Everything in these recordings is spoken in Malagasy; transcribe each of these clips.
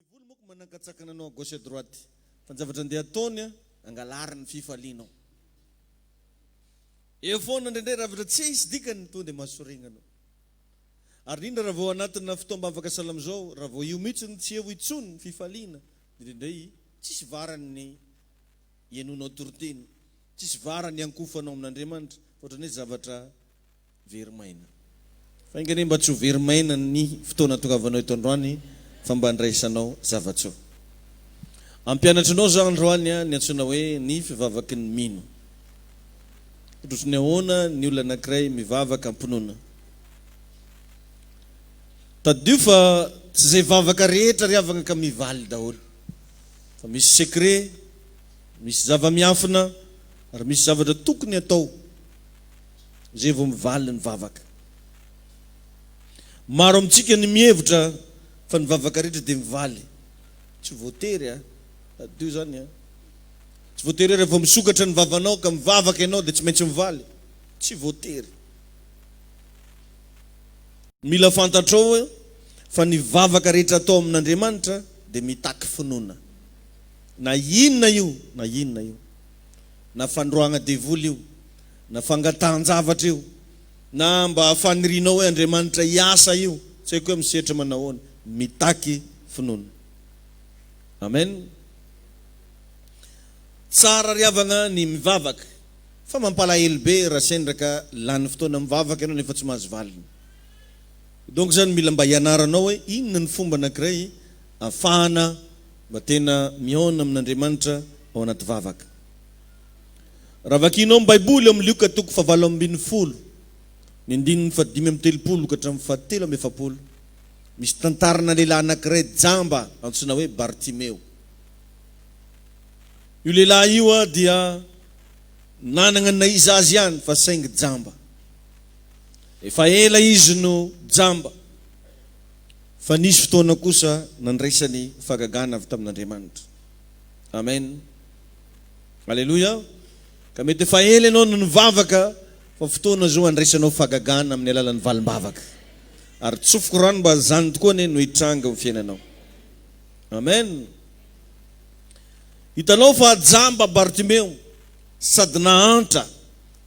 Devoly moko manankatsakana anao à gauche à droite fa ny zavatra andeha ataony angalary ny fifalianao eo foana indraindray raha vatra tsisy dikany tonga dia mahasorena anao ary indrindra raha vao anatina fotoam-bavaka salamo zao raha vao io mihitsy no tsy eo intsony ny fifaliana dia indraindray tsisy varany ny ianonao toriteny tsisy varany iankofanao amin'Andriamanitra fa ohatran'ny hoe zavatra Very maina. Fa enga anie mba tsy ho very maina ny fotoana tongavanao eto androany fa mba andraisanao zava-tsoa. Hampianatra anao zah androany ny antsoina hoe ny fivavaky ny mino. Ohatry ny ahoana ny olona anankiray mivavaka am-pinoana. Tadidio fa tsy izay vavaka rehetra ry havana ka mivaly daholo. Fa misy secret, misy zava-miafina ary misy zavatra tokony atao. izay vao mivaly ny vavaka. Maro amintsika ny mihevitra fa ny vavaka rehetra dia mivaly. Tsy voatery a! Tadidio izany a! Tsy voatery hoe rehefa misokatra ny vavanao ka mivavaka ianao dia tsy maintsy mivaly. Tsy voatery. Mila fantatrao fa ny vavaka rehetra atao amin'Andriamanitra dia mitaky finoana. Na inona io na inona io. Na fandroahagna devoly io. na fangatahan-javatra io, na mba fanirianao hoe Andriamanitra hiasa io, tsy haiko hoe misetra manahoana, mitaky finoana. Amen. Tsara ry havagna ny mivavaka, fa mampalahelo be raha sendra ka lany fotoana mivavaka ianao nefa tsy mahazo valiny. Donc zany mila mba hianaranao hoe inona ny fomba anankiray ahafahana mba tena mihaona amin'Andriamanitra ao anaty vavaka. Raha vakianao ny Baiboly ao amin'ny Lioka toko fahavalo ambin'ny folo, ny andininy fahadimy amby telopolo ka hatramin'ny fahatelo amby efapolo, misy tantarana lehilahy anankiray jamba antsoina hoe Bartimeo. Io lehilahy io dia nanana ny naiza azy ihany fa saingy jamba. Efa ela izy no jamba, fa nisy fotoana kosa nandraisany fahagagana avy tamin'Andriamanitra. Amen. Aleloia! Ka mety efa ela ianao no nivavaka fa fotoana izao handraisanao fahagagana amin'ny alalan'ny valim-bavaka. Ary tsofiko rano mba izany tokoa anie no hitranga eo fiainanao. Amen! Hitanao fa jamba Bartimeo sady nahantra,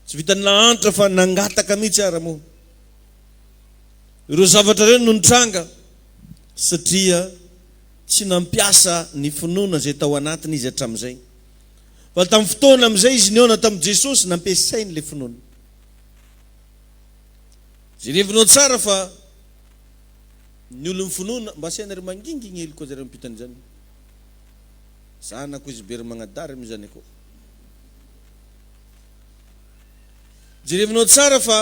tsy vitan'ny nahantra fa nangataka mihitsy ara moa. Ireo zavatra ireo no nitranga satria. tsy nampiasa ny finoana izay tao anatiny izy hatramin'izay. Fa tamin'ny fotoana amin'izay izy nihaona tamin'i Jesosy, nampiasainy ilay finoana. Jerevinao tsara fa ny olon'ny finoana, mba asiana ry manginginely koa zareo ampitan' izany. Zanako izy be ry magnadary moa izany akory. Jerevinao tsara fa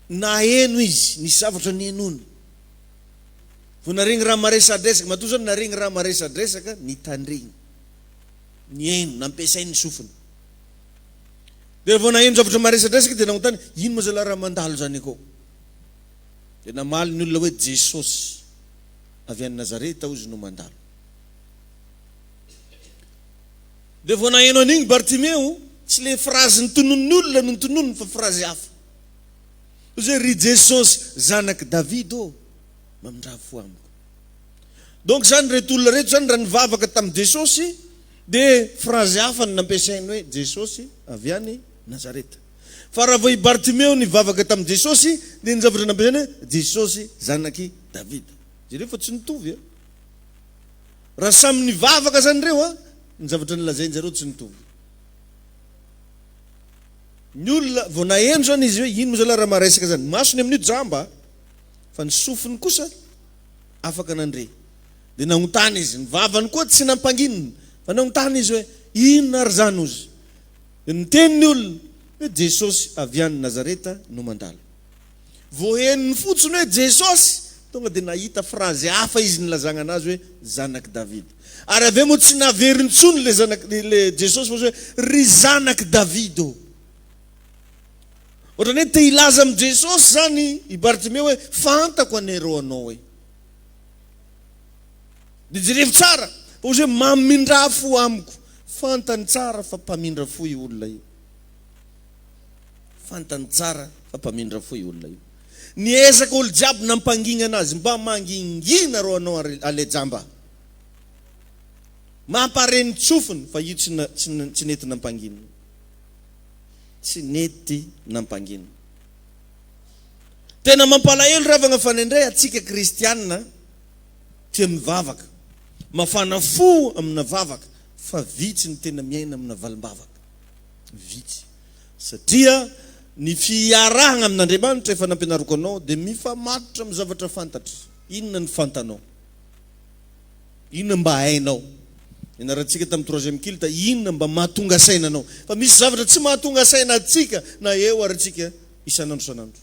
naheno izy ny zavatra nihenoiny. Vao naharegny raha maresadresaka, matoa zao naharegny raha maresadresaka, nitandregny, nihaino, nampiasainy ny sofiny. Dia vao naheno zavatra maresadresaka dia nanontany, ino moa zalahy raha mandalo zany akao? Dia namaly ny olona hoe Jesosy avy any Nazareta hozy no mandalo. Dia vao naheno an'igny Bartimeo, tsy le frazy notononin'ny olona no notononiny fa frazy hafa. Ozy ry Jesosy zanak'i David ô mamindraha fo amiko. Donc zany reto olona reto zany raha nivavaka tamin'i Jesosy de phrase hafa no nampiasainy hoe Jesosy avy any Nazareta. Fa raha vao i Bartimeo nivavaka tamin'i Jesosy de ny zavatra nampiasainy hoe Jesosy zanak'i David. Jereo fa tsy nitovy a. Raha samy nivavaka zany reo a, ny zavatra nolazainjareo tsy nitovy. Ny olona vao naheno zany izy hoe ino moa zalah raha maresaka zany. Masony amin'io jamba fa ny sofiny kosa afaka nandre. Dia naontany izy. Ny vavany koa tsy nampanginina fa naontany izy hoe inona ary zany ozy. Dia niteny ny olona hoe Jesosy avy any Nazareta no mandalo. Vao henony fotsiny hoe Jesosy, tonga dia nahita frazy hafa izy nilazagna anazy hoe Zanak'i Davida. Ary avy eo moa tsy naveriny intsony le zanak le Jesosy fa hoe Ry Zanak'i Davida ô. Ohatrany hoe te hilaza amin'i Jesosy zany i Bartimeo hoe fantako anie rô anao e. Dia jerevo tsara fa ozy hoe mamindrà fo amiko. Fantany tsara fa mpamindra fo io olona io. Fantany tsara fa mpamindra fo io olona io. Niezaka olo jiaby nampanginana azy mba mangingina ro anao ale jamba. Mampare ny tsofiny fa io tsy nety nampangina. Tsy nety nampangina. Tena mampalahelo ravagna fa nendray atsika kristiana tia mivavaka, mafana fo amina vavaka fa vitsy ny tena miaina amina valimbavaka. vitsy satria ny fiarahagna amin'Andriamanitra efa nampianariko anao dia mifamatotra amin'ny zavatra fantatra. Inona ny fantanao? Inona mba hainao? Nianarantsika tamin'ny troisième culte inona mba mahatonga saina anao. Fa misy zavatra tsy mahatonga saina antsika na eo ary antsika isan'andro isan'andro.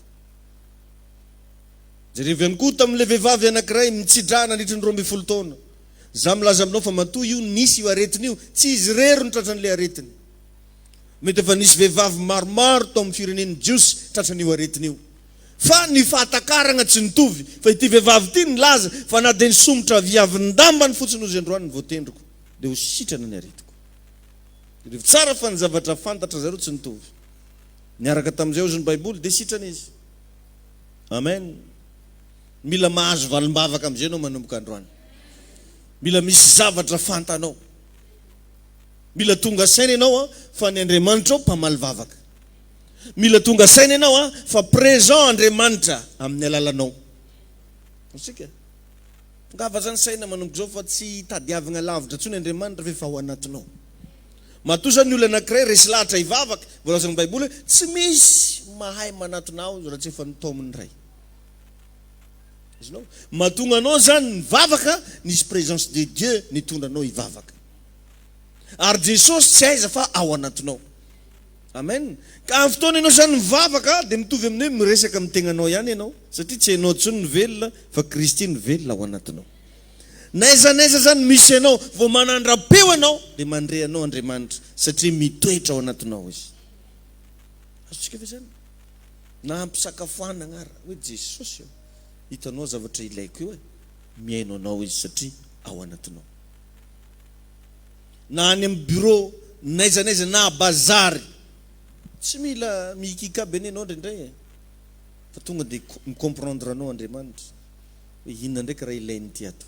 Jerevo ihany koa tamin'ilay vehivavy anankiray mitsidraha nandritry ny roa ambin'ny folo taona. Za milaza aminao fa matoa io nisy io aretina io, tsy izy irery no tratran'ilay aretina. Mety efa nisy vehivavy maromaro tao amin'ny firenen'ny Jiosy tratran'io aretina io. Fa ny fahatakaragna tsy nitovy, fa ity vehivavy ity nilaza fa na dia nisomotra viavin-dambany fotsiny ozy androany ny voatendriko, dia ho sitrana ny aretiko. Tadidio tsara fa ny zavatra fantatra zareo tsy nitovy. Niaraka tamin'izay ozy ny Baiboly, dia sitrana izy. Amen. Mila mahazo valimbavaka amin'izay ianao manomboka androany. Mila misy zavatra fantanao. Mila tonga saina ianao a, fa ny Andriamanitra ao mpamaly vavaka. Mila tonga saina ianao a, fa présent Andriamanitra amin'ny alalanao. Isika. Tongava zany saina manomboka izao fa tsy hitadiavagna lavitra intsony Andriamanitra fa efa ao anatinao. Matoa zany ny olona anakiray resy lahatra hivavaka, voalazan'ny baiboly hoe tsy misy mahay manatona aho raha tsy efa nitaomin'ny Ray. Azonao? Mahatonga anao zany mivavaka nisy présence de Dieu nitondra anao hivavaka. Ary Jesosy tsy aiza fa ao anatinao. Amen. Ka amin'ny fotoana ianao zany mivavaka dia mitovy amin'ny hoe miresaka amin'ny tegnanao ihany ianao satria tsy ianao intsony no velona fa Kristy no velona ao anatinao. N'aiza n'aiza zany misy anao vao manandra-peo ianao dia mandre anao Andriamanitra satria mitoetra ao anatinao Izy. Azontsika ve zany? Na ampisakafoanagna ara, hoe Jesosy ô, hitanao zavatra ilaiko io e, mihaino anao izy satria ao anatinao. Na any amin'ny bureau, n'aiza n'aiza, na à bazary, tsy mila mihikika be anie anao indraindray e, fa tonga dia mi-comprendre anao Andriamanitra, hoe inona ndraiky raha ilainy ity ato.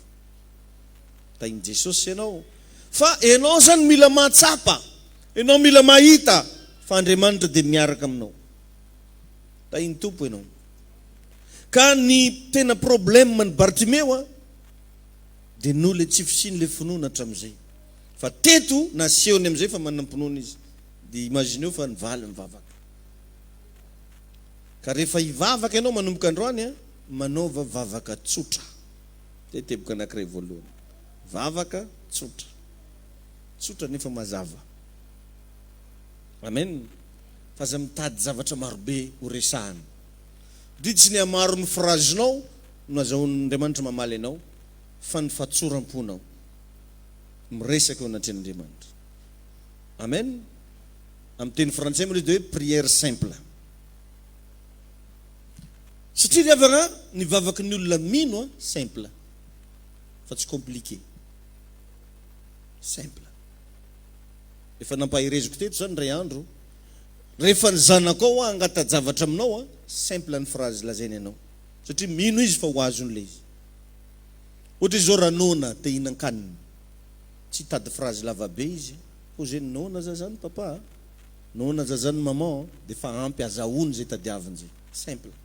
Tahin'i Jesosy ianao, fa ianao zany mila mahatsapa Enao mila mahita fa Andriamanitra dia miaraka aminao. Tahin'ny Tompo enao. Ka ny tena problème an'i Bartimeo a, dia noho ilay tsy fisian'ilay finoana hatramin'izay. Fa teto nasehony amin'izay fa manam-pinoana izy. Dia imagineo fa nivaly mivavaka. Ka rehefa hivavaka enao manomboka androany a, manaova vavaka tsotra. Zay teboka anakiray voalohany. Vavaka tsotra. Tsotra nefa mazava. Amen. Fa aza mitady zavatra marobe ho resahana. Ndry tsy ny hamaron'ny frazinao no azahoan'Andriamanitra mamaly anao fa ny fatsoram-ponao miresaka eo anatrehan'Andriamanitra. Amen. Amin'ny teny frantsay moa ilay izy dia hoe prière simple. Satria ry havana, ny vavaky ny olona mino simple fa tsy compliqué. Simple. Efa nampahereziko teto izany indray andro, rehefa ny zanakao hoa hangata-javatra aminao an, simple ny phrase lazainy anao, satria mino izy fa ho azony ilay izy. Ohatra izao raha noana te hihinan-kanina, tsy hitady phrase lava be izy, pose ny noana aza izany papa a, noana aza izany maman a, dia efa ampy, azahoany izay tadiaviny izay. Simple.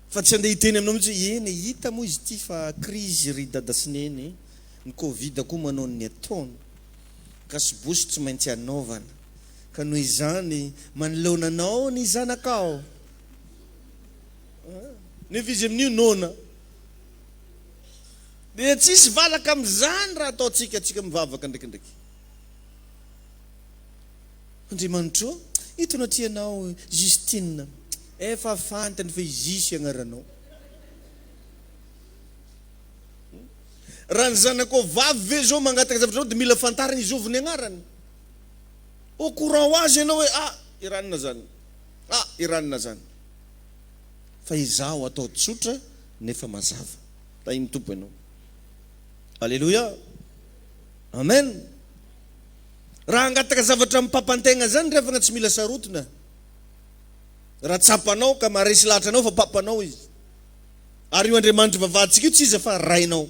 Fa tsy andeha hiteny aminao mihitsy hoe eny e, hita moa izy ity fa krizy ry dada sy neny e, ny covid koa manao ny ataony, gasibosy tsy maintsy anaovana, ka noho izany manoloana anao ny zanakao an! Nefa izy amin'io noana. Dia tsy hisy valaka amin'izany raha ataontsika antsika mivavaka ndraikindraiky. Andriamanitro ô, eto anatrehanao Justine, efa fantany fa i Jus agnaranao. Raha ny zanakao vavy ve zao mangataka zavatra anao dia mila fantariny i Zovy ny agnarany. Au courant ho azy ianao hoe ah, i Ranona zany, ah, i Ranona zany. Fa izaho atao tsotra nefa mazava. Tahin'ny Tompo ianao. Alléluia. Amen. Raha hangataka zavatra amim-papantegna zany ry havagna tsy mila sarotina. Raha tsapanao ka maharesy lahatra anao fa papanao izy. Ary io Andriamanitry vavahantsika io tsy iza fa Rainao.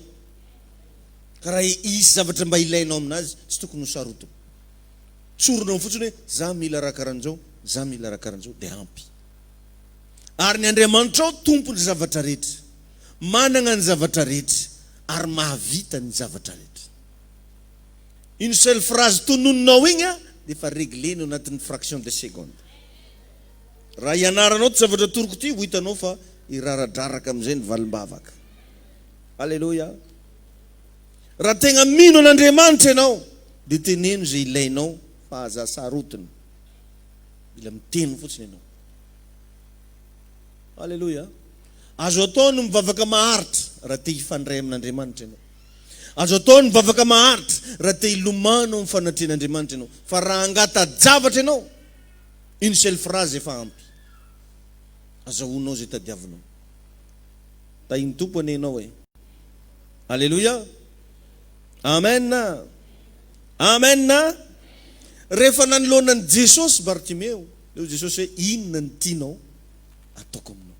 Ka raha hisy zavatra mba ilainao aminazy tsy tokony ho sarotina. Tsorinao fotsiny hoe za mila raha karanjao, za mila raha karanjao dia ampy. Ary ny Andriamanitrao Tompon'ny zavatra rehetra, managna ny zavatra rehetra ary mahavita ny zavatra rehetra. Une seule phrase tononinao igny an dia efa reglenao anatin'ny fraction de seconde. Raha ianaranao ty zavatra atoroko ty ho hitanao fa hiraradraraka amin'izay ny valimbavaka. Aleloia. Raha tegna mino an'Andriamanitra ianao dia teneno izay ilainao fa aza asarotiny. Mila miteny fotsiny ianao. Aleloia. Azo atao ny mivavaka maharitra raha te hifandray amin'Andriamanitra ianao. Azo atao ny mivavaka maharitra raha te hilomano amin'ny fanatrehan'Andriamanitra ianao. Fa raha hangata-javatra ianao, une seule phrase efa ampy. Azahoanao izay tadiavinao. Tahin'ny Tompo anie ianao e! Aleloia! Amen! Amen! Rehefa nanoloana an'i Jesosy Bartimeo, dia hoy Jesosy hoe, Inona no tianao hataoko aminao?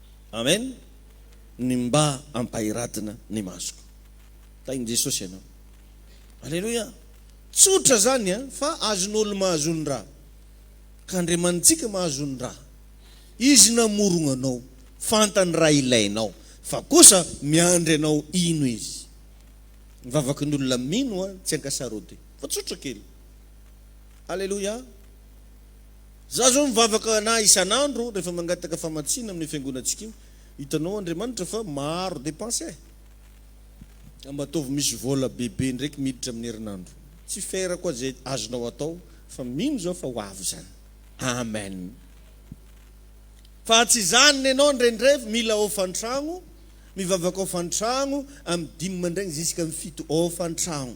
Amen ny mba ampahiradina ny masoko tahin'i Jesosy ianao Aleloia tsotra zany a fa azon'olo mahazo ny ra ka Andriamanitsika mahazo ny ra Izy namorogna anao fantany raha ilainao fa kosa miandry anao hino Izy ny vavaky ny olona mino a tsy ankasarody fa tsotra kely Aleloia. Za zao mivavaka anah isan'andro rehefa mangataka famatsiana amin'ny fiangonantsika io, hitanao Andriamanitra fa maro depense eh! Ka mba ataovy misy vola bebe ndraiky miditra amin'ny herinandro. Tsy ferako aza izay azonao atao fa mino zao fa ho avy zany. Amen. Fa tsy zany nenao ndraindray mila hofan-tragno, mivavaka hofan-tragno amin'ny dimy mandraigny zisk'amin'ny fito hofan-tragno.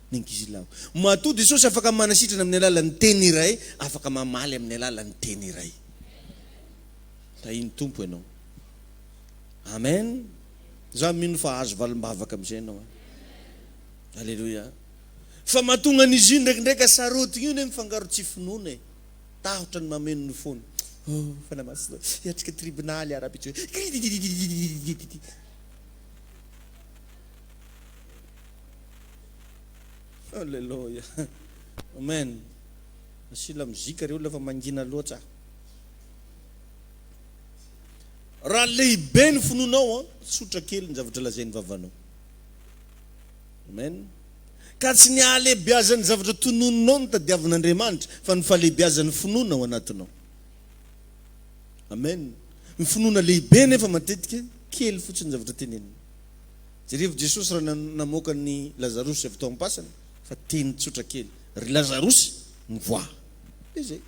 Ny ankizilahy. Matoa Jesosy afaka manasitrana amin'ny alalan'ny teny iray, afaka mamaly amin'ny alalan'ny teny iray. Tahin'ny Tompo ianao. Amen. Za mino fa azo valim-bavaka amin'izay ianao. Eh. Aleloia. Fa mahatonga an'izy io ndraikindraika sarotigny io ne mifangaro tsy finoana e. Tahotra ny mameno ny fony. Oh, fanahy masina, hiatrika tribonaly ara Alléluia. Amen. Asio lamozika reo olona fa mangina loatra. Raha lehibe ny finoanao, tsotra kely ny zavatra lazain'ny vavanao. Amen. Ka tsy ny hahalehibeazan'ny zavatra tononinao no tadiavin'Andriamanitra fa ny fahalehibeazan'ny finoana ao anatinao. Amen. Ny finoana lehibe nefa matetika kely fotsiny ny zavatra tenenina. Jerevo Jesosy raha namoaka an'i Lazarosy avy tao am-pasana fa teny tsotra kely, Ry Lazarosy, mivoaha. Dia zay.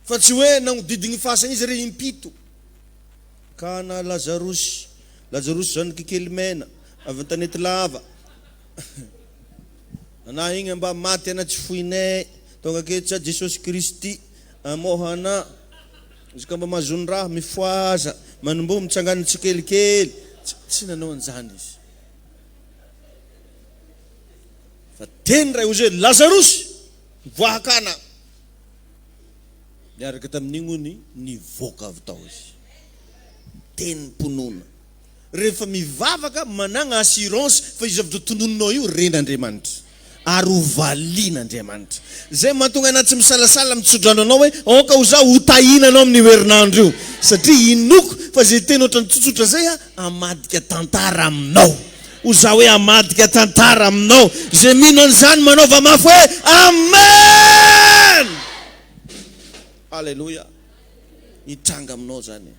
Fa tsy hoe nagnodidigny fasagna izy re impito. Ka ana Lazarosy, Lazarosy zanaky kely mena, avy an-tanety lava, ana igny mba maty ana tsy foinay, tonga aketo sa Jesosy Kristy, amoha ana. Izy ka mba mahazo ny raha mifohaza, manimbo mitsangana tsikelikely. Tsy nanao an'izany izy. Fa teny iray hozy hoe, Lazarosy, mivoaha kana! Niaraka tamin'iny hono nivoaka avy tao izy. Tenim-pinoana. Rehefa mivavaka, managna assurance fa io zavatra tononinao io ren'Andriamanitra ary ho valian'Andriamanitra. Zay mahatonga anah tsy misalasala mitsodrano anao hoe aoka ho za ho tahina anao amin'io herinandro io satria inoako fa zay teny ohatrany tsotsotra zay ah amadika tantara aminao. Ho za hoe amadika tantara aminao. Zay mino an'izany manaova mafy hoe Amen! Haleloia! Hitranga aminao zany.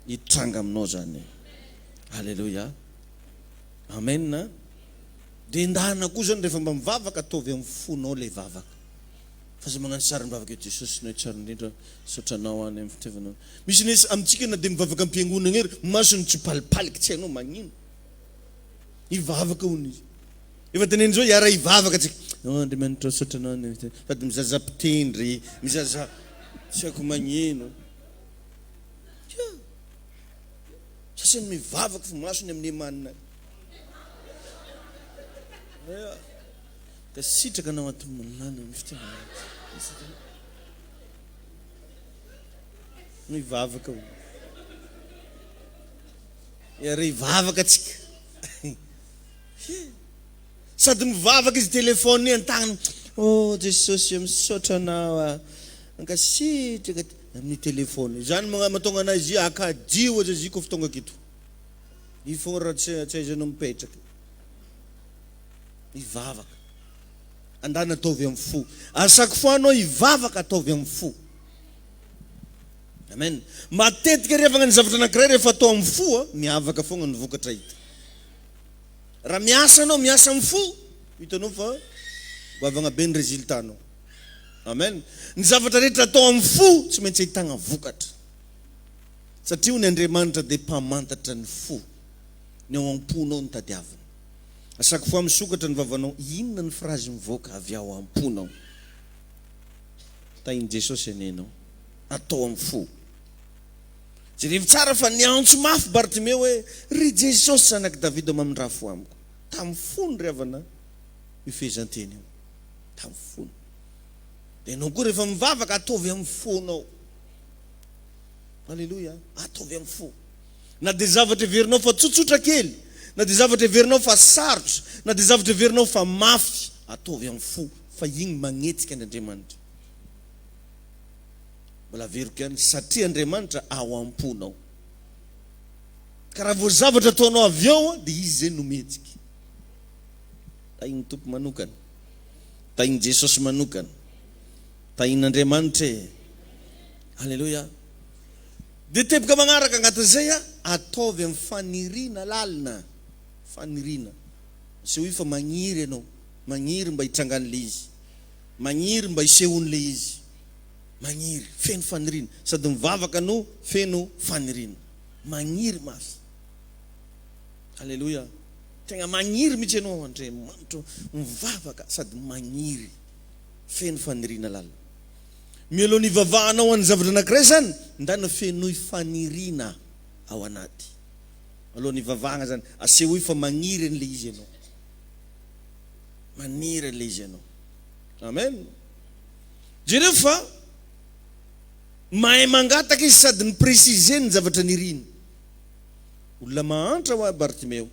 hitranga aminao zany. Aleloia. Amen. Dia endahina koa zany rehefa mba mivavaka ataovy amin'ny fonao ilay vavaka. Fa zay magnano sary mivavaka eo Jesosy Noe tsara indrindra misaotra anao any amin'ny fitiavanao. Misy nes amintsika na dia mivavaka am-piangonagna ary masony tsy palipaliky tsy hainao magnino. Hivavaka hono izy. Efa teneniny zao hiara hivavaka tsika. Oh Andriamanitra misaotra anao any amin'ny sady mizaza mpitendry, mizaza tsy haiko magnino. Tsia! Sasany mivavaka fa maso ny amin'ny emanina any. Aya! Ka sitraka anao ato milana ny fitiavana ato. Mivavaka o. Iary hivavaka tsika. Hia! Sady mivavaka izy telephone an tagnany oh Jesosy o misaotra anao aho mankasitraka amin'ny telephone izany matonga anay zia akadio aza zia kof tonga kito i fon ra tsy aiza no mipetraka mivavaka andany ataovy am fo a chaque fois anao hivavaka ataovy am fo amen matetika revagna ny zavatra anakiray rehefa atao am fo a miavaka fogna ny vokatra hita. Raha miasa anao, miasa amin'ny fo, hitanao fa goavana be ny résultat-nao. Amen. Ny zavatra rehetra atao amin'ny fo tsy maintsy ahitana vokatra. Satria hoy ny Andriamanitra dia mpamantatra ny fo. Ny ao am-ponao no tadiavina. A chaque fois misokatra ny vavanao, inona ny phrase mivoaka avy ao am-ponao? Tahin'i Jesosy anie ianao. Atao amin'ny fo. Jerevo tsara fa niantso mafy Bartimeo hoe, Ry Jesosy zanak'i Davida mamindraha fo amiko. Tamin'ny fony ry havana io fehezanteny io. Tamin'ny fony. Dia ianao koa rehefa mivavaka ataovy amin'ny fonao. Aleloia. Ataovy amin'ny fo. Na dia zavatra heverinao fa tsotsotra kely, na dia zavatra heverinao fa sarotra, na dia zavatra heverinao fa mafy, ataovy amin'ny fo fa iny magnetsika an'Andriamanitra. Mbola averiko ihany, satria Andriamanitra ao am-ponao. Ka raha vao zavatra ataonao avy eo, dia Izy izay no mihetsika. Tahin'ny Tompo manokana. Tahin'i Jesosy manokana. Tahin'Andriamanitra e. Aleloia. Dia teboka magnaraka agnatin'izay, ataovy amin'ny faniriana lalina. Faniriana. Asehoy fa magniry ianao. Magniry mba hitrangan'ilay izy. Magniry mba hisehoany le izy. Magniry, feno faniriana. Sady mivavaka no feno faniriana. Magniry mafy. Aleloia. Tegna magniry mihitsy ianao Andriamanitro, mivavaka sady magniry, feno faniriana lalina. Mialoha ny hivavahanao an'ny zavatra anankiray zany, ndana fenoy faniriana ao anaty. Alohan'ny hivavahana zany, asehoy fa magniry an'le izy ianao. Maniry ilay izy ianao. Amen. Jereo fa mahay mangataka izy sady mi-preciser ny zavatra niriny. Olona mahantra ho'a Bartimeo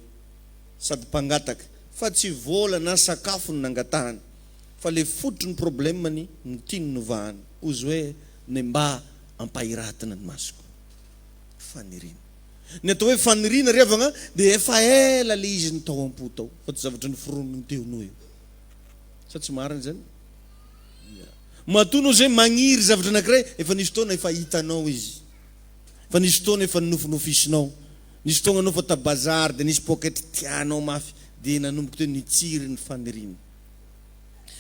sady mpangataka fa tsy vola na sakafo no nangatahany fa ilay fototry ny problemany no tiany novahany. Ozy hoe, Mba ampahiratina ny masoko. Faniriana. Ny atao hoe faniriana ry havagna dia efa ela le izy no tao ampo tao fa tsy zavatra noforonin'ny teo noho eo. Sa tsy marina izany? Ya. Matoa anao izay magniry zavatra anankiray, efa nisy fotoana efa hitanao izy. Efa nisy fotoana efa nonofinofisinao. Nisy fotoagna anao efa tabazary dia nisy pôketra tianao mafy dia nanomboka teo nitsiry ny faniriana.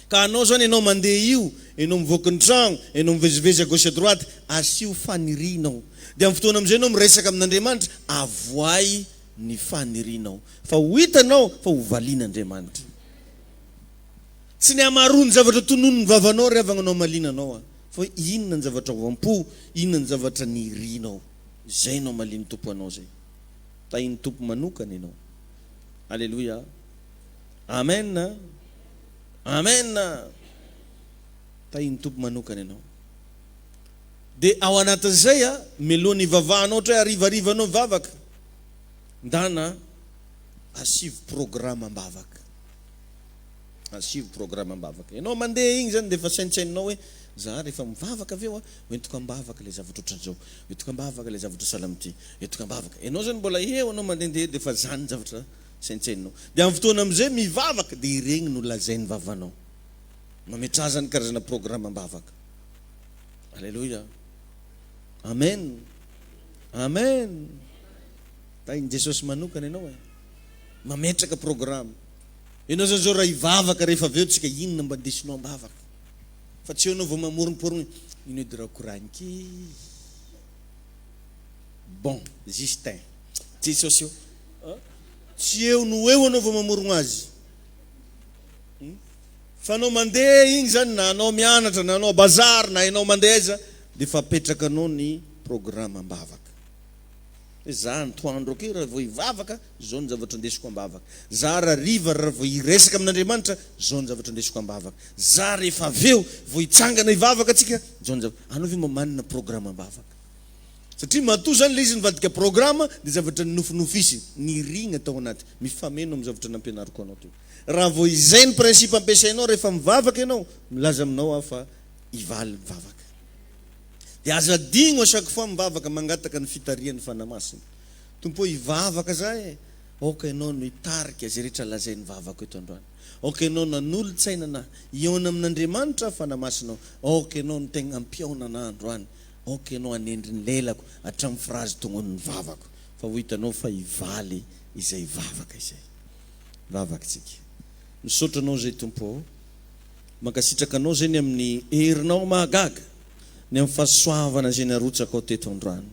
Ka anao zany enao mandeha io, enao mivoaka ny tragno, enao mivezivezy à gauche à droite, asio fanirianao. Dia amin'ny fotoana amin'izay enao miresaka amin'Andriamanitra, avoay ny fanirianao. Fa ho hitanao fa ho valian'Andriamanitra. Tsy ny hamaroan'ny ny zavatra tononin'ny vavanao ry havagna no hamaliana anao an. Fa hoe inona ny zavatra ao am-po, inona ny zavatra nirianao. Zay no hamalian'ny Tompo anao zay. Tahin'ny Tompo manokana enao. Aleloia. Amen a! Amen a! Tahin'ny Tompo manokana ianao. Dia ao anatin'izay a, meloha ny vavahanao ohatra hoe harivariva anao vavaka. Ndana asivo programme am-bavaka. Asivo programme am-bavaka. Ianao mandeha igny zany dia efa saintsaininao hoe za rehefa mivavaka avy eo a, hoentiko am-bavaka ilay zavatra ohatran'izao, hoentiko am-bavaka ilay zavatra sahala amin'ity, hoentiko am-bavaka. Ianao zany mbola eo anao mandehandeha dia efa zany zavatra. Saintsaino. Dia amin'ny fotoana amin'izay mivavaka dia ireny no lazain'ny vavanao. Mametrahazany karazana programam-bavaka. Aleloia. Amen. Amen. Tahin'i Jesosy manokana ianao e. Mametraka programa. Ianao izany izao raha hivavaka rehefa avy eo tsika inona mba ndesinao am-bavaka. Fa tsy eo ianao vao mamoromporogna. Ino edy raha koragniko e. Bon, Justin. Jesosy eo a! tsy eo no ho eo anao vao mamorogno azy hum! fa anao mandeha igny zany na anao mianatra na anao bazary na enao mandeha aiza de efa apetrakanao ny programme ambavaka hoe za antoandro akeo raha vao hivavaka zao ny zavatra ndesiko ambavaka, za rariva raha vao hiresaka amin'Andriamanitra zao ny zavatra ndesiko ambavaka, za rehefa avy eo vao hitsangana hivavaka tsika zao ny zavatra, anao ve mba manana programme ambavaka? Satria matoa izany ilay izy nivadika programa dia zavatra ninofinofisiny, nirina tao anaty, mifameno amin'ny zavatra nampianariko anao teo. Raha vao izay ny principe ampiasainao rehefa mivavaka ianao, milaza aminao aho fa hivaly ny vavaka. Dia aza adino à chaque fois mivavaka mangataka ny fitarihan'ny Fanahy Masina. Tompo ô hivavaka za e! Aoka Ianao no hitarika izay rehetra lazain'ny vavako eto androany. Aoka Ianao no hanolo-tsaina anah, hihaona amin'Andriamanitra aho Fanahy Masina ô! Aoka Ianao no tegna hampihaona anah androany. Aoka ianao hanendry ny lelako hatramin'ny frazy tongonin'ny vavako, fa ho hitanao fa hivaly izay vavaka izay. Vavakintsika. Misaotra Anao izay Tompo ô. Mankasitraka Anao izay ny amin'ny herinao mahagaga, ny amin'ny fahasoavana izay narotsakao teto androany.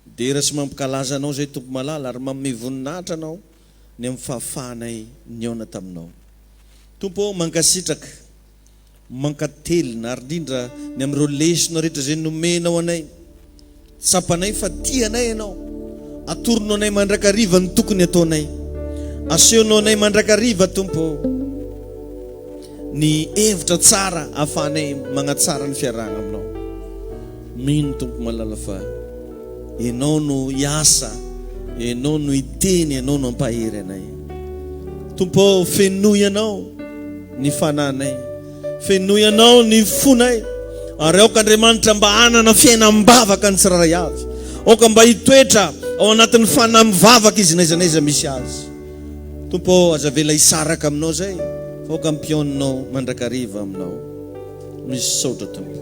Midera sy mampikalaza Anao izay Tompo malala, ary manome voninahitra Anao ny amin'ny fahafahanay nihaona taminao. Tompo ô, mankasitraka, mankatelina, ary indrindra ny amin'ireo lesona rehetra izay nomenao anay. Tsapanay fa tia anay Ianao. Atorono anay mandrakariva ny tokony ataonay. Asehonao anay mandrakariva, Tompo ô, ny hevitra tsara ahafahanay manatsara ny fiarahana Aminao. Mino Tompo malala fa Ianao no hiasa, Ianao no hiteny, Ianao no hampahery anay. Tompo ô, fenoy Anao ny fananay, fenoy Anao ny fonay, ary aoka Andriamanitra mba hanana fiainam-bavaka ny tsirairay avy. Aoka mba hitoetra ao anatin'ny fanam-vavaka izy n'aiza n'aiza misy azy. Tompo ô, aza avela hisaraka Aminao izay, fa aoka hampihaoninao mandrakariva Aminao. Misaotra Tompo.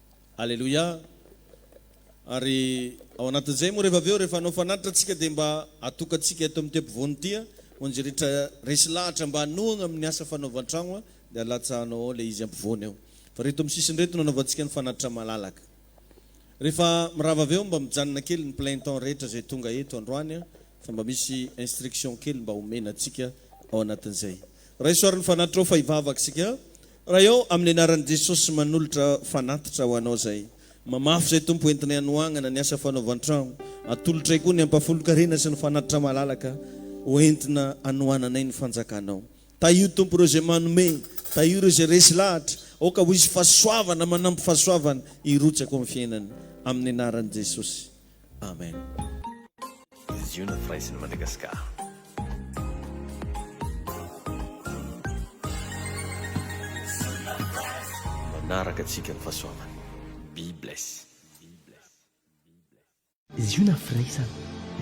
Aleloia! Ary ao anatin'izay moa rehefa avy eo, rehefa hanao fanatitra tsika dia mba atokantsika eto amin'ity ampovoany ity an, onjy rehetra resy lahatra mba hanohagna amin'ny asa fanaovan-tragno an, dia alatsahanao ao ilay izy ampovoany ao. Fa reto amin'ny sisiny reto no anaovantsika ny fanatitra malalaka. Rehefa mirava avy eo mba mijanona kely ny plein temps rehetra izay tonga eto androany an, fa mba misy instruction kely mba homena antsika ao anatin'izay. Raiso ary ny fanatitra ao fa hivavaka isika. Raha eo amin'ny anaran'i Jesosy manolotra fanatitra ho anao izay. Mamafy izay Tompo entinay hanohangana ny asa fanaovan-trano. Atolotray koa ny ampahafolon-karena sy ny fanatitra malalaka ho entina anohananay ny fanjakanao. Tahio Tompo ireo izay manome, tahio ireo izay resy lahatra, aoka ho hisy fahasoavana manampy fahasoavana hirotsaka ao amin'ny fiainany. Amin'ny anaran'i Jesosy. Amen. Manaraka antsika ny fahasoavany. Be bless. Ziona firaisana.